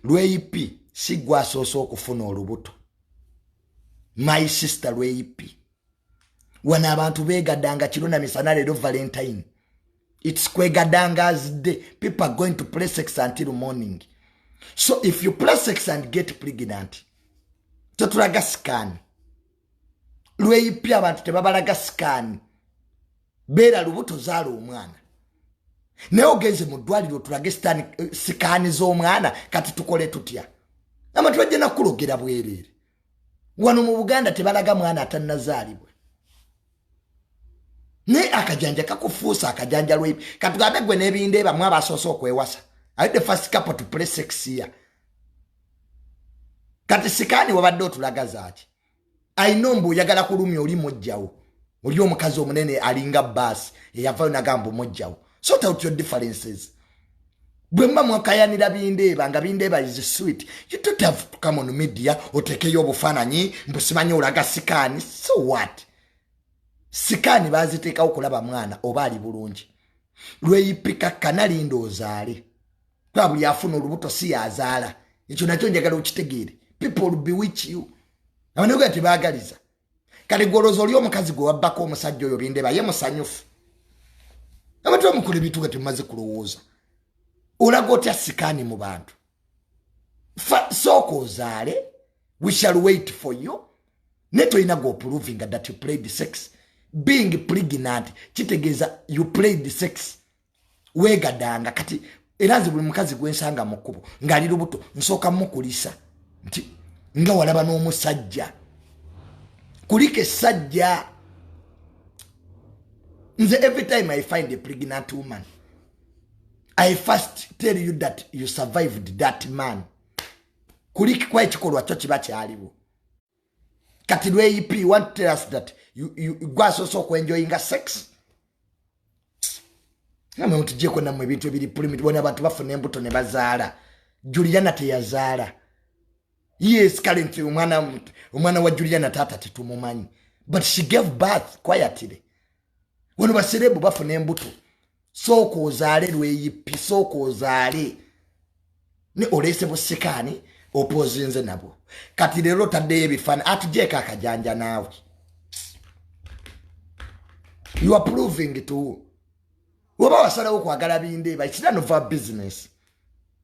lweyipi si gwe asoose okufuna olubuto my sister lweyipi wano abantu begadanga kiro na misana leero valentine its kwegadanga azidde people are going to play sex until morning so if you play sex and get pregnant totulaga sikaani lweyipya abantu tebabalaga sikaani beera lubuto zaala omwana naye ogenze mu ddwaliro tulage sitaani eh, sikaani z'omwana kati tukole tutya abantu bajja nakulogera bwereere wano mu buganda tebalaga mwana atannazaalibwa naye akajanja kakufuusa akajanja lwe katugambe gwe n'ebindeeba mu abasoose okwewasa aye the first couple to play sex ya kati sikaani wabadde otulaga zaaki ayina mbu oyagala kulumya oli mujjawo oli omukazi omunene alinga baasi eyavayo nagamba omujjawo sort out your differences bwe mba mwakayanira bindeeba nga bindeeba is sweet you don't have to come on media otekeyo obufaananyi mbu simanyi olaga sikaani so what sikaani baaziteekawo kulaba mwana oba ali bulungi lweyipika kanalinda ozaale kuba buli afuna olubuto si yazaala ekyo nakyo njagala okitegeere people bewich you abanaga tebaagaliza kale gwolooza oli omukazi gwe wabbako omusajja oyo bindeba ye musanyufu abantu bamukula ebintu nga temumaze kulowooza olaga otya sikaani mu bantu sooka ozaale we shall wait for you naye tolina gopuluvinga that you played sex being pregnant kitegeeza you played sex wegadanga kati era nze buli mukazi gwensanga mu kkubo ng'ali lubuto nsooka mukulisa nti nga walaba n'omusajja kulika essajja nze every time i find a pregnant woman i first tell you that you survived that man kuliki kwa ekikolwa kyo kiba kyaliwo kati lweip want tell us that gwasoose okwenjoyinga sex namwe mutujeko namwe ebintu ebiri pulimit bona abantu bafuna embuto ne bazaala juliana teyazaala yes kale nti omwana wa juliana taata tetumumanyi but she gave birth quietly wano baserebu bafuna embuto sooka ozaale lweyipi sooka ozaale ne oleese busikaani opozinze nabwo kati leero otaddeyo ebifaani atujeeko akajanja naawe you are proving to oba wasalawo kwagala bindeeba it's none of our business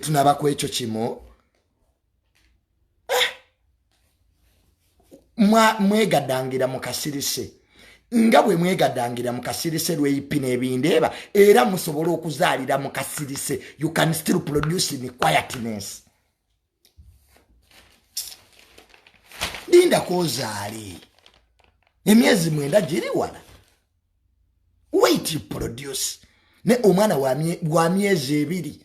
tunaba ku ekyo kimu eh! mwegadangira mu kasirise nga bwe mwegadangira mu kasirise lweyipi n'ebindeeba era musobole okuzaalira mu kasirise you can still produce in quietness linda kozaali emyezi mwenda giri wala wait produce ne omwana wa myezi ebiri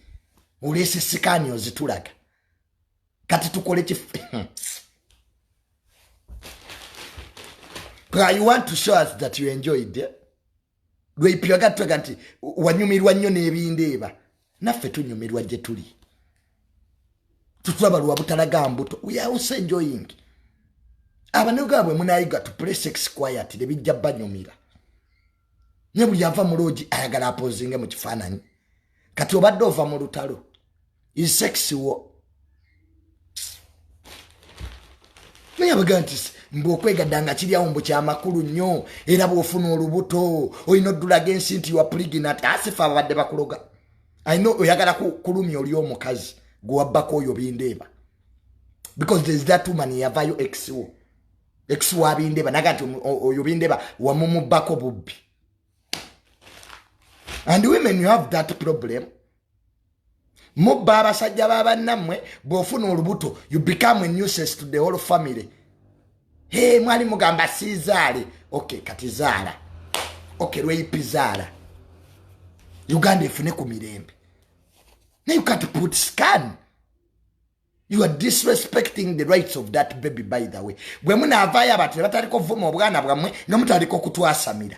oleese sikaani ozitulaga kati tukole kif you want to show us that you enjoyed eh? lweipiragattega nti wanyumirwa nnyo n'ebindeeba naffe tunyumirwa gye tuli tutulaba lwa butalaga mbuto weause enjoying abanoga bwe munayiga to play sex quiet ne bijja banyumira ne buli ava mu loogi ayagala apozinge mu kifaananyi kati obadde ova mu lutalo insects wo naye abaga nti mbu okwegadda nga kiryawo mbu kyamakulu nnyo era bwofuna olubuto olina oddulaga ensi nti wapuliginat asifa ababadde bakuloga ayina oyagala kulumya oli omukazi gwewabbako oyo bindeeba because there's that woman yavayo exwo ex wa bindeeba naga nti oyo bindeeba wamumubbako bubbi and women you have that problem mubba abasajja ba bannammwe bw'ofuna olubuto you become a nuisance to the whole family he mwali mugamba siizaale ok kati zaala ok lweyipi zaala uganda efune ku mirembe naye ukati put scan you are disrespecting the rights of that baby by the way bwe munaavaayo abantu ne bataliko vuma obwana bwammwe nga mutaliko kutwasamira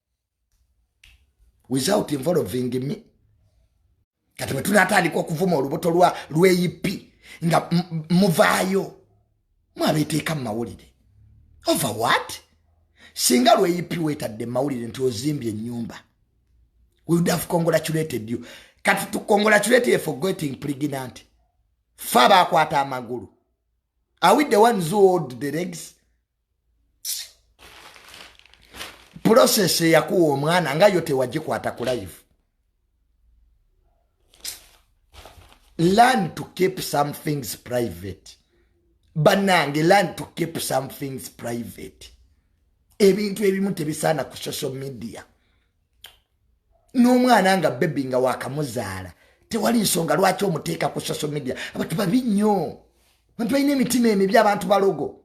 without involving me kati bwe tunatandika okuvuma olubuto lwa lweyipi nga muvaayo mwabeteeka mu mawulire over what singa lweyipi wetadde mu mawulire nti ozimbye enyumba wudaf congratulated you kati tu congratulated for getting pregnant fa bakwata amagulu are we the ones who hold the legs process eyakuwa omwana nga yo tewagikwata ku live learn to keep some things private banange learn to keep some things private ebintu ebimu tebisaana ku social media n'omwana nga bebi nga wakamuzaala tewali nsonga lwaki omuteeka ku social media abantu babi nnyo abantu balina emitima emibi abantu balogo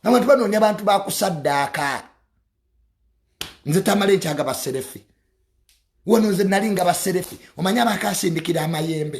nabantu banoonya bantu bakusaddaaka nze tamala ekyaga baserefi wano nze nali nga baserefi omanyi abakasindikira amayembe